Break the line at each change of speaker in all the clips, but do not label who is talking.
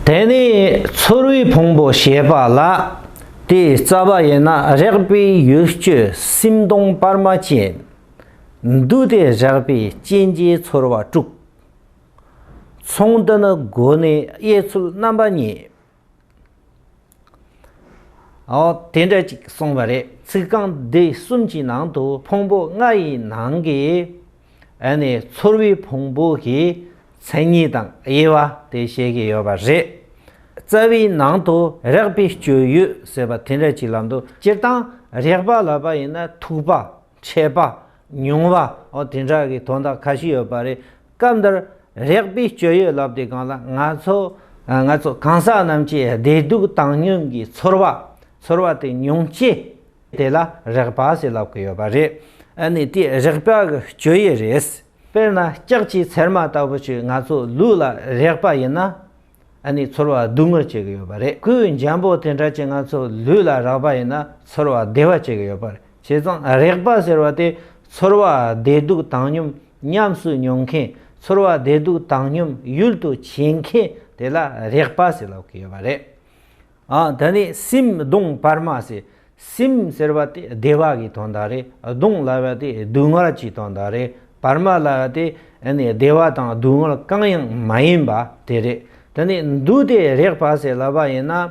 དེ་ནས་ཚོར་བའི་ཕུང་པོ་ཞེས་པ་ལ། དེའི་རྩ་བ་ཡིན་ན་རེག་པའི་ཡུལ་སྤྱོད་སེམས་སྟོང་སྤར་མ་ཅན། འདུས་ཏེ་རེག་པའི་རྐྱེན་གྱིས་ཚོར་བ་དཀྲུག། མཚུངས་འདི་ནི་སྒོ་ནས་དབྱེ་ཚུལ་རྣམ་པ་གཉིས། ཨོ། དེ་འདྲ་ཅིག་གསུངས་པ་རེད་ཚིག་རྐང་འདི་གསུམ་གྱི་ནང་དུ་ཕུང་པོ་ལྔ་ཡི་ནང་གི་ཨེ་ནི་ཚོར་བའི་ཕུང་པོ་གི་མཚན་ཉིད་དང་དབྱེ་བ་དེ་བཤད་ཀྱི་ཡོད་པ་རེད། རྩ་བའི་ནང་དུ་རེག་པའི་སྤྱོད་ཡུལ་ཟེར་བ་དེ་འདྲ་ཅིག་ལ་འདུག་སྤྱིར་བཏང་རེག་པ་ལ་བ་ཡིན་ན་ཐུག་པ། ཆད་པ། མྱོང་བ། ཨོ་དེ་འདྲ་གི་དོན་དག་ཁ་ཤས་ཡོད་པ་རེད། སྐབས་འདིར་རེག་པའི་སྤྱོད་ཡུལ་ལབ་དེ་གང་ལ་ང་ཚོ་ང་ཚོ་གང་ཟག་རྣམས་ཀྱི་བདེ་སྡུག་བཏང་སྙོམས་ཀྱི་ཚོར་བ་ཚོར་བ་དེ་མྱོང་བྱེད་དེ་ལ་རེག་པ་ཞེས་ལབ་ཀྱི་ཡོད་པ་རེད། ཨ་ནི་དེ་རེག་པ་གི་སྤྱོད་ཡུལ་རེད། དཔེར་ན་ལྕགས་ཀྱི་ཚེར་མ་ལྟ་བུ་ཞིག་ང་ཚོའི་ལུས་ལ་རེག་པ་ཡིན་ན། ཨ་ནི་ཚོར་བ་སྡུག་བསྔལ་བྱེད་ཀྱི་ཡོད་པ་རེད་སྐུའི་འཇམ་པོ་དེ་འདྲ་ཅན་ང་ཚོ་ལུས་ལ་རགས་པ་ཡིན་ན་ཚོར་བ་བདེ་བ་བྱེད་ཀྱི་ཡོད་པར་བྱས་ཙང་རེག་པ་ཟེར་བ་དེ་ཚོར་བ་བདེ་སྡུག་བཏང་སྙོམས་ཉམས་སུ་མྱོང་མཁན་ཚོར་བ་བདེ་སྡུག་བཏང་སྙོམས་ཡུལ་དུ་བྱེད་མཁན་དེ་ལ་རེག་པ་ཟེར་ལོག་གི་ཡོད་པ་རེད། འདི་ནི་སིམ་གདུང་བར་མ་ཟེར། སིམ་ཟེར་བ་དེ་བདེ་བ་གི་དོན་དག་རེད། གདུང་ལ་བ་དེ་སྡུག་བསྔལ་གྱི་དོན་དག་རེད། བར་མ་ལ་བ་དེ་བདེ་བ་དང་སྡུག་བསྔལ་གང་ཡང་མ་ཡིན་པ་དེ་རེད། དེ་ནས་འདུག་སྟེ་རེག་པ་ཟེར་ལ་བ་ཡིན་ན།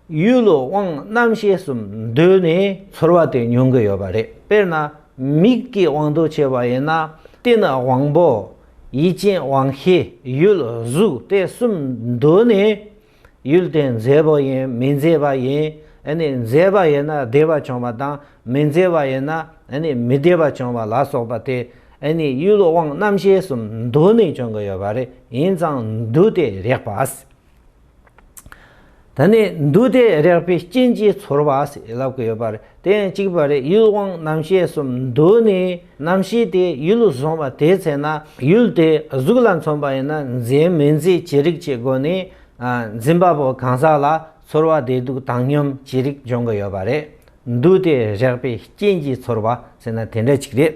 ཡུལ་ལུས་དབང་རྣམ་ཤེས་གསུམ་འདུས་ནས། ཚོར་བ་དེ་མྱོང་གི་ཡོད་པ་རེད། དཔེར་ན། མིག་གི་དབང་དུ་བྱས་པ་ཡིན་ན། དེ་ནི་དབང་པོ། ཡིད་ཅན་དབང་ཤེས། ཡུལ་གཟུགས་དེ་གསུམ་འདུས་ནས། ཡུལ་དེ་མཛེས་པོ་ཡིན་མི་མཛེས་པ་ཡིན་ནི་མཛེས་པ་ཡིན་ན་བདེ་བ་བྱུང་བ་དང་མི་མཛེས་པ་ཡིན་ན་ནི་མི་བདེ་བ་བྱུང་བ་ལ་སོགས་པ་དེ་ནི་ཡུལ་དབང་རྣམ་ཤེས་སུ་འདུ་ནས་བྱུང་གི་ཡོད་པ་རེད་ཡིན་ཙང་འདུ་དེ་རེག་པ། ད་ནི་འདུ་དེ་རེག་པའི་རྐྱེན་གྱིས་ཚོར་བ་ཞིག་ལབ་ཀྱི་ཡོད་པ་རེད། དེ་ཡང་གཅིག་པ་རེ་ཡུལ་དབང་རྣམ་ཤེས་གསུམ་འདུ་ནས་རྣམ་ཤེས་དེ་ཡུལ་ལ་བཟུང་བ་དེའི་ཚེ་ན་ཡུལ་དེ་གཟུགས་ལ་མཚོན་པ་ཡིན་ན་འཛིན་མི་འཛིན་ཅི་རིགས་ཀྱི་སྒོ་ནས་འཛིན་པ་པོ་གང་ཟག་ལ་ཚོར་བ་བདེ་སྡུག་བཏང་སྙོམས་ཅི་རིགས་འབྱུང་གི་ཡོད་པ་རེད་འདུག་དེ་རེག་པའི་རྐྱེན་གྱིས་ཚོར་བ་ཟེར་ན་དེ་འདྲ་ཅིག་རེད།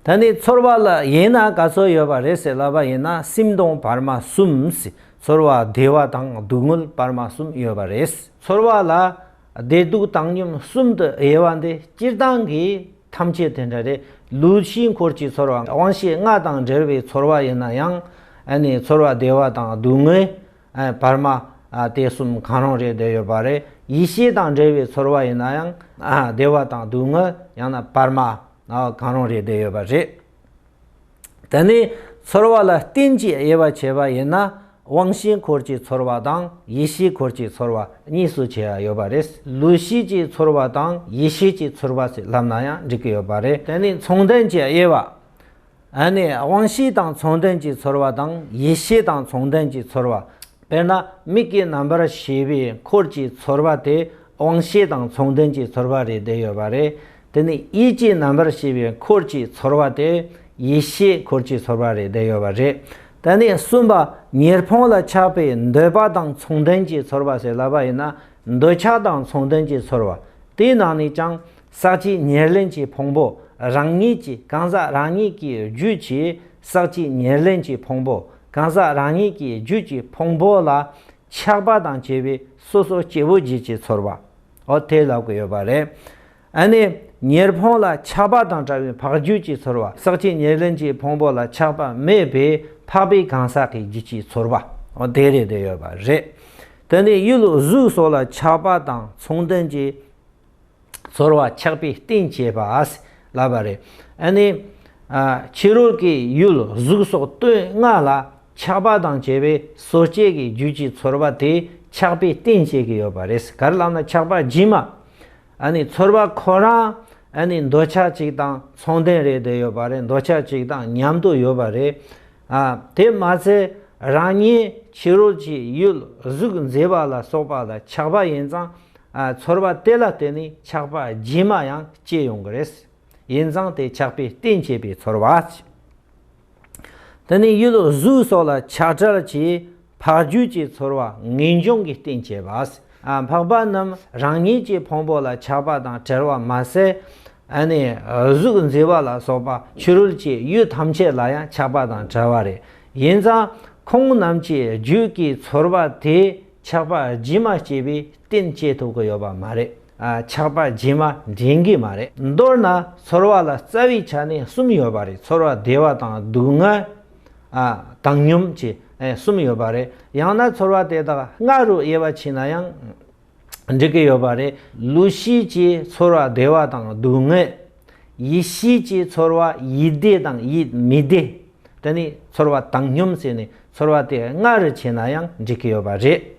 ད་ནི་ཚོར་བ་ལ་ཡིན་ན་ག་ཚོད་ཡོད་པ་རེད་ཟེར་ལབ་པ་ཡིན་ན་སེམས་སྟོང་བར་མ་གསུམ་ཚོར་བ་བདེ་བ་དང་སྡུག་བསྔལ་བར་མ་གསུམ་ཡོད་པ་རེད། ཚོར་བ་ལ་བདེ་སྡུག་བཏང་སྙོམས་གསུམ་དུ་དབྱེ་བ་འདི་སྤྱིར་བཏང་གི་ཐམས་ཅད་དེ་འདྲ་རེད། ལུས་ཕྱི་འཁོར་གྱི་ཚོར་བ་དབང་ཤེས་ལྔ་དང་འབྲེལ་བའི་ཚོར་བ་ཡིན་ན་ཡང། ཚོར་བ་བདེ་བ་དང་སྡུག་བསྔལ། བར་མ། དེ་གསུམ་གང་རུང་རེ་འདོད་ཡོད་པ་རེད། ཡིད་ཤེས་དང་འབྲེལ་བའི་ཚོར་བ་ཡིན་ན་ཡང། བདེ་བ་དང་སྡུག་བསྔལ་ཡང་ན་བར་མ། གང་རུང་རེ་འདོད་ཡོད་པ་རེད། དེ་ནི་ཚོར་བ་ལ་རྟེན་གྱི་དབྱེ་བ་བྱས་པ་ཡིན་ན་དབང་བཞིའི་འཁོར་གྱི་ཚོར་བ་དང་ཡེ་ཤེས་འཁོར་གྱི་ཚོར་བ་གཉིས་སུ་ཕྱེ་བ་ཡོད་པ་རེད། ལུས་བཞི་ཀྱི་ཚོར་བ་དང་ཡེ་ཤེས་ཀྱི་ཚོར་བ་ཞེས་ལབ་ན་ཡང་འགྲིག་གི་ཡོད་པ་རེད། དེ་ནི་མཚུངས་ལྡན་གྱི་དབྱེ་བ། ཨ་ནི་དབང་བཞི་དང་མཚུངས་ལྡན་གྱི་ཚོར་བ་དང་ཡེ་ཤེས་དང་མཚུངས་ལྡན་གྱི་ཚོར་བ། དཔེར་ན་མིག་གི་རྣམ་པར་ཤེས་པའི་འཁོར་གྱི་ཚོར་བ་དེ་དབང་བཞི་དང་མཚུངས་ལྡན་གྱི་ཚོར་བ་རེད་བསྡད་ཡོད་པ་རེད། དེ་ནི་ཡིད་ཀྱི་རྣམ་པར་ཤེས་པའི་འཁོར་གྱི་ཚོར་བ་སྟེ་ཡིད་ཤེས་འཁོར་གྱི་ཚོར་བ་རེ་བསྡད་ཡོད་པ་རེད། དེ་ནས་གསུམ་པ་ཉེར་འཕོང་ལ་ཆགས་པས་འདོད་པ་དང་མཚུངས་ལྡན་གྱི་ཚོར་བ་ཟེར་ལབ་པ་ཡིན་ན་འདོད་ཆགས་དང་མཚུངས་ལྡན་གྱི་ཚོར་བ་དེའི་ནང་ནས་ཀྱང་ཟག་བཅས་ཉེར་ལེན་གྱི་ཕུང་པོ་རང་ཉིད་ཀྱི་གང་ཟག་རང་ཉིད་ཀྱི་རྒྱུད་ཀྱིས་ཟག་བཅས་ཉེར་ལེན་གྱི་ཕུང་པོ་གང་ཟག་རང་ཉིད་ཀྱི་རྒྱུད་ཀྱི་ཕུང་པོ་ལ་ཆགས་པ་དང་བཅས་པའི་སོ་སོ་སྐྱེ་བོ་བརྒྱད་ཀྱི་ཚོར་བ། འོ་དེ་ལབ་གི་ཡོད་པ་རེད། ཨ་ནི་ཉེར་འཕོང་ལ་ཆགས་པ་དང་བྲལ་བའི་འཕགས་རྒྱུད་ཀྱི་ཚོར་བ་ཟག་བཅས་ཉེར་ལེན་གྱི་ཕུང་པོ་ལ་ཆགས་པ་མེད་པས་འཕགས་པའི་གང་ཟག་གི་རྒྱུད་ཀྱི་ཚོར་བ་འོ་དེ་རེད་དེ་ཡོད་པ་རེད། དེ་ནི་གཡུལ་གཟུགས་སོགས་ལ་ཆགས་པ་དང་མཚུངས་ལྡན་གྱི་ཚོར་བ་ཆགས་པའི་རྟེན་བྱེད་པ་ཨ་སི་ལབ་པ་རེད། ཨ་ནི། ཕྱི་རོལ་གྱི་གཡུལ་གཟུགས་སོགས་བསྟོད་བསྔགས་ལ། ཆགས་པ་དང་བཅས་པའི་སོ་སྐྱེ་གི་རྒྱུད་ཀྱི་ཚོར་བ་དེ་ཆགས་པའི་རྟེན་བྱེད་ཀྱི་ཡོད་པ་རེད་ག་རེ་ལབ་ན་ཆགས་པ་སྦྱིན་མ་ཨ་ནི་ཚོར་བ་ཁོ་རང་ཨ་ནི་འདོད་ཆགས་གཅིག་དང་མཚུངས་ལྡན་རེད་དེ་ཡོད་པ་རེད་འདོད་ཆགས་གཅིག་དང་མཉམ་དུ་ཡོད་པ་རེད་ཨ་དེ་མ་ཚད་རང་ཉིད་ཕྱི་རོལ་གྱི་ཡུལ་གཟུགས་མཛེས་པ་ལ་སོགས་པ་ལ་ཆགས་པ་ཡིན་ཙང་ཨ་ཚོར་བ་དེ་ལ་བརྟེན་ནས་ཆགས་པ་སྦྱིན་མ་ཡང་སྐྱེ་ཡོང་གི་རེད། ཡིན་ཙང་དེ་ཆགས་པའི་རྟེན་བྱེད་པའི་ཚོར་བ། དེ་ནི་ཡུལ་གཟུགས་སོགས་ལ་ཆགས་བྲལ་གྱི་འཕགས་རྒྱུད་ཀྱི་ཚོར་བ་ངེས་འབྱུང་གི་རྟེན་བྱེད་པ། འཕགས་པ་རྣམས་རང་ཉིད་ཀྱི་ཕུང་པོ་ལ་ཆགས་པ་དང་བྲལ་བ་མ་ཟད། གཟུགས་མཛེས་པ་ལ་སོགས་པ་ཕྱི་རོལ་གྱི་ཡུལ་ཐམས་ཅད་ལ་ཡང་ཆགས་པ་དང་བྲལ་བ་རེད། ཡིན་ཙང་ཁོང་རྣམས་ཀྱི་རྒྱུད་ཀྱི་ཚོར་བ་དེས་ཆགས་པ་ཇི་མ་སྐྱེས་པའི་རྟེན་བྱེད་ཐུབ་ཀྱི་ཡོད་པ་མ་རེད། ཆགས་པ་རྗེས་མ་འདྲེན་གྱི་མ་རེད། མདོར་ན་ཚོར་བ་ལ་རྩ་བའི་ཆ་ནས་གསུམ་ཡོད་པ་རེད་ཚོར་བ་བདེ་བ་དང་སྡུག་བསྔལ། བཏང་སྙོམས་བཅས་གསུམ་ཡོད་པ་རེད། ཡང་ན་ཚོར་བ་དེ་དག་ལྔ་རུ་དབྱེ་བ་ཕྱིན་ན་ཡང་འགྲིག་གི་ཡོད་པ་རེད། ལུས་ཤེས་ཀྱི་ཚོར་བ་བདེ་བ་དང་སྡུག་བསྔལ། ཡིད་ཤེས་ཀྱི་ཚོར་བ་ཡིད་བདེ་དང་ཡིད་མི་བདེ། དེ་ནི་ཚོར་བ་བཏང་སྙོམས་བྱས་ནས་ཚོར་བ་དེ་ལྔ་རུ་ཕྱེ་ན་ཡང་འགྲིག་གི་ཡོད་པ་རེད།